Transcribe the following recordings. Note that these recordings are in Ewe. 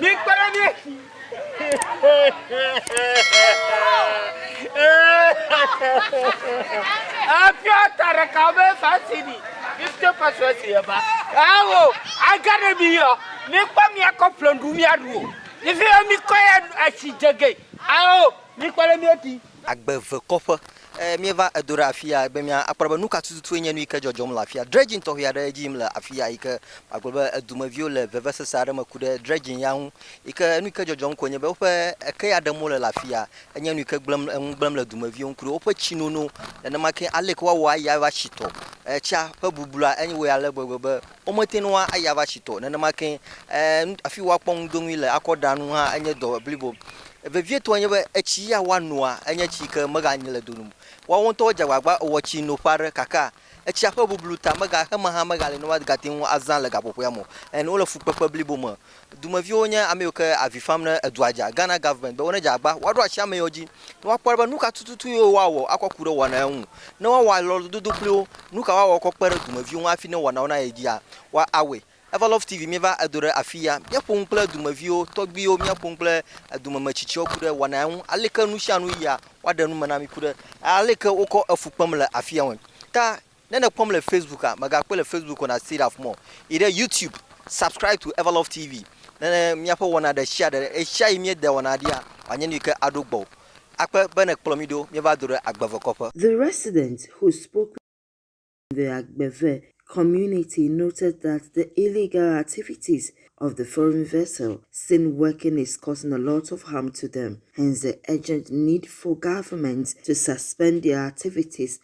Mikpe ɖe mí ŋu. Efia ta ɖeka be fasini. Mifte fasini si yeva. Awo aga ɖe mi yɔ. Mikpɔ miakɔ ƒlɔndu miaɖu o. Ife mikɔ ya asi dze ge. Awo mikpe ɖe mí ŋuti. Agbevekɔƒe. Ɛɛ, míeva edo ɖe afia be míakpɔ ɖa be nu ka tututue nye nu yi ke dzɔdzɔm le afia. Dredging tɔxɛ aɖe edzi yim le afia yi ke magblɔ be edumeviwo le vevesese aɖe me ku ɖe dredging ya ŋu yi ke nu yi ke dzɔdzɔm koe nye be woƒe eke ya ɖem wole le afia. Enye nu yi ke gblẽm, eŋu gblẽm le dumeviwo ŋu ku ɖe woƒe tsinono. Nenema ke aleke woawɔ ayi aɖatsi tɔ, etsea ƒe bublua enye wòya ale gbegbe be Womete ŋu ayi ava tsi tɔ nenema ke e, afi woakpɔ ŋudoŋui le akɔ ɖa nu hã enye dɔ blibo. Vevietɔe nye be, etsi ya woanoa enye tsi ke meganyi le do nu o. Woawo ŋutɔwo dze agbagba wɔ tsi noƒe aɖe gake etsia ƒe bublu ta mega heme hã megale ne woagate ŋu azã le gaƒoƒoea me o. Ɛn, wole fukpekpe blibo me Dumeviwo nye ameyiwo ke avi fam ne edua dza, Ghana government be wo ne dze agba woaɖo asi ameyiwo dzi ne woakpɔ ɖa be nuka tututu ye woawɔ akɔ ku ɖe wɔna ya ŋu. Ne woawɔ alɔdodo kpli wo, nuka woawɔ akɔ kpe ɖe dumeviwo ŋu hafi ne wɔnawo nayi edzia? Wa awɔe. Eva Love TV míeva edo ɖe afiya. Míaƒo nu kple dumeviwo, tɔgbiwo, míaƒo nu kple edome metsitsiwo ku ɖe wɔna ya ŋu, aleke nusianu yia, woaɖe nu me na mi ku ɖe aleke wokɔ efu kpem le afiya ŋu ta. Ne nèkpɔm le Facebook a, mègakpɔe le Facebook o, na see that more. Yi ɖe YouTube, subscribe to Everlove TV, ne míaƒe wɔna ɖesiaɖe, ɣesiaɣi míedea wɔna ɖia, wòanye nu yi ke aɖo gbɔwò. Akpe be nèkplɔ mí ɖo míeva do ɖe agbevekɔƒe. The resident who spoke with us in the Agbeve community noted that the illegal activities of the foreign vessel seen working is causing a lot of harm to them, hence the urgent need for government to suspend their activities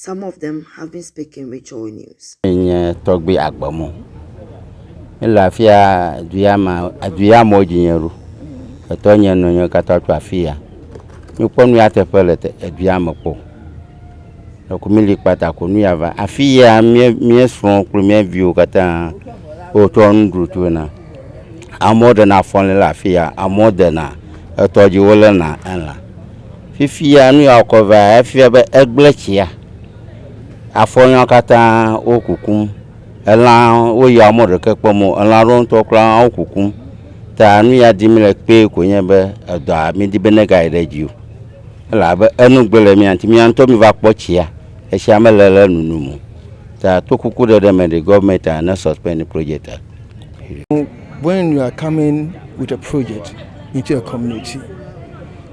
Some of them have been speaking with Joy News. Nye tɔgbi agbemɔ. Mele afia duya ma aduya mɔ dzinye ɖo. Etɔ nye nɔ nye kata tu afiya. Nye kpɔ nuya teƒe le te eduya me kpɔ. Eku mi li kpata ko nuya va. Afiya mie mie srɔ̃ kple mie viwo kata wo tɔ nu ɖu tu na. Amɔ ɖe na fɔn le afiya. Amɔ de na etɔ dzi wo le na ela. Fifia nu ya wòkɔ vea, efia be egblẽ tsia. Afɔnyɔa katã wo kukum. Elã wo ya mɔ ɖeke kpɔm o. Elã ɖewo ŋutɔ kura wo kukum. Ta nu ya dim le kpee ko nye be edɔa mi di be ne ga yi ɖe dzi o. Elabe enu gbe le mía ŋuti. Mía ŋutɔ mi va kpɔ tsia. Etsia me le le nunum o. Ta to kuku ɖe ɖe me ɖe government a ne suspend project a. When you are coming with a project into a community.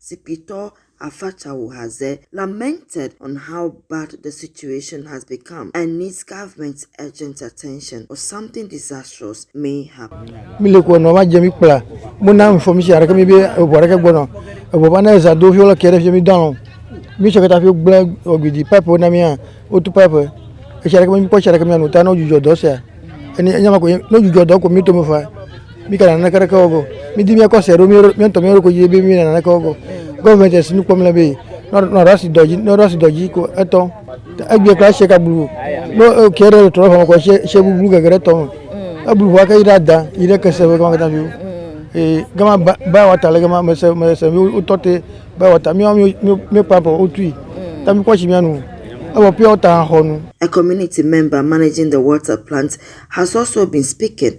Zikpuitɔ afã tsa wò haze lamented on how bad the situation has become and needs government's urgent attention or something disastrous may happen. Mi le kɔ nɔ ma dze mi kpla mo na information aɖeke mi be eʋu aɖeke gbɔnɔ eʋu va ne eza do fi wole kɛ ɖe fi mi do alɔ mi sɔ kata fi gblẽ ɔgbidi pipe wo na mi hã wotu pipe etsi aɖeke mi kpɔ tsi aɖeke mi anu ta ne wodzudzɔ dɔ sia ene enya ma ko ne wodzudzɔ dɔ ko mi tome fa mi kana naneke ɖeke wɔ go mi di mi kɔ se ɖo mi mi ntɔ mi yɔrɔ ko yi bi mi naneke wɔ go gɔvmɛnti esi nu kpɔm le bi nɔ ɖasi dɔ dzi nɔ ɖasi dɔ dzi ko etɔ egbe kura se ka blu no e, kɛ ɖe trɔ fama ko se se blu gege ɖe tɔ me eblu ʋua ke yi ɖe ada yi ɖe kese be gama kata bi ee gama ba ba wa ta le gama mese mese mi wotɔ te ba wa ta mi wa mi mi mi kpa bɔ wotui ta mi kɔ si mi anu ewɔ pia wota xɔ nu A community member managing the water plant has also been speaking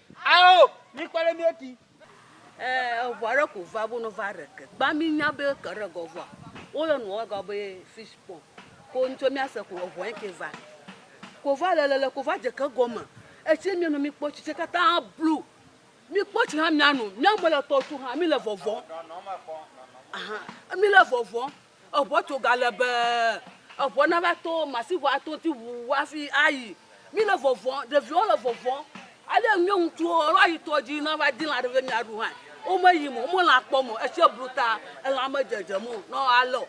Ao, mikpɔ ɖe mía ti. E, eŋu aɖe ko va bo no va ɖe ke. Gba mi nya be ke ɖe gɔ vɔa. Wo yɔ nu wɔe gɔ be fish pond. Ko ŋutsu mía se ko eŋu eke va. Ko va le le le ko va dze ke gɔme. Etsi mía nu mi kpɔ tsi tse kata blu. Mi kpɔ tsi hã mía nu. Mía me le tɔ tu hã mi le vɔvɔ. Ahan, mi le vɔvɔ. Eŋua tso galebee. Eŋua nava to masiŋua ato ŋuti ʋuu hafi ayi. Míle vɔvɔ̃m, ɖeviwo le vɔvɔ̃m. Ale mía ŋutsuwo ava yi tɔ dzi na va di lã ɖe be míaɖu hã. Womeyim o, wome lã kpɔm o. Etsia blu ta, elã medzedzem o ne woalé o.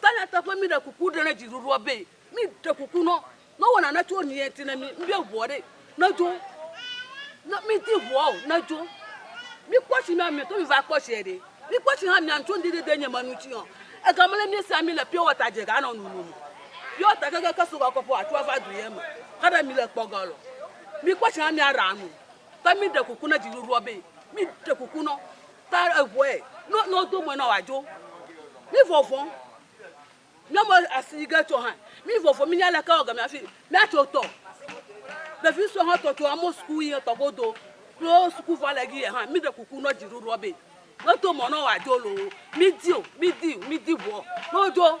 Ta nyateƒe, míɖe kuku ɖe na dziɖuɖua be. Mi ɖe kuku nɔ nɔ wɔ nane tso niɛ ti ne mi, ŋɖe ŋuɔ ɖe ne djo, nɔ mi di ŋuɔ o ne djo. Mi kpɔ tsi mia mi to mi va kpɔ tsiɛ ɖe. Mi kpɔ tsi hã mia ŋtso ŋɖe ɖe de nye me nu tsi ɔ. Ega mele mi sia mi le pure water dje ga nɔ nunu mɔ pure water ke ke ke so wakɔ po atso ava du yɛ me xe ɖe mi le kpɔ ga lɔ. Mi kpɔ tsi hã mia ra nu. Ta mi ɖe kuku ne dji ɖuɖuɔ be mi ɖe kuku nɔ ta eŋuɛ nɔ nɔ do mɔɛ nɔ wa djo. Mi vɔvɔn. Míamu asi yi ge tso hã. Mí vovo mí nya leke wɔ game hafi mía tso tɔ. Ɖevi sue hã tɔ tso amewo suku yi etɔ godo. Kple wo suku vɔ le gi yɛ hã mí ɖe kuku nɔ dziɖuɖuɔ be me to mɔ nɔ woa dzo loo. Mí di o, mí di, mí di ŋuɔ nɔ wo dzo.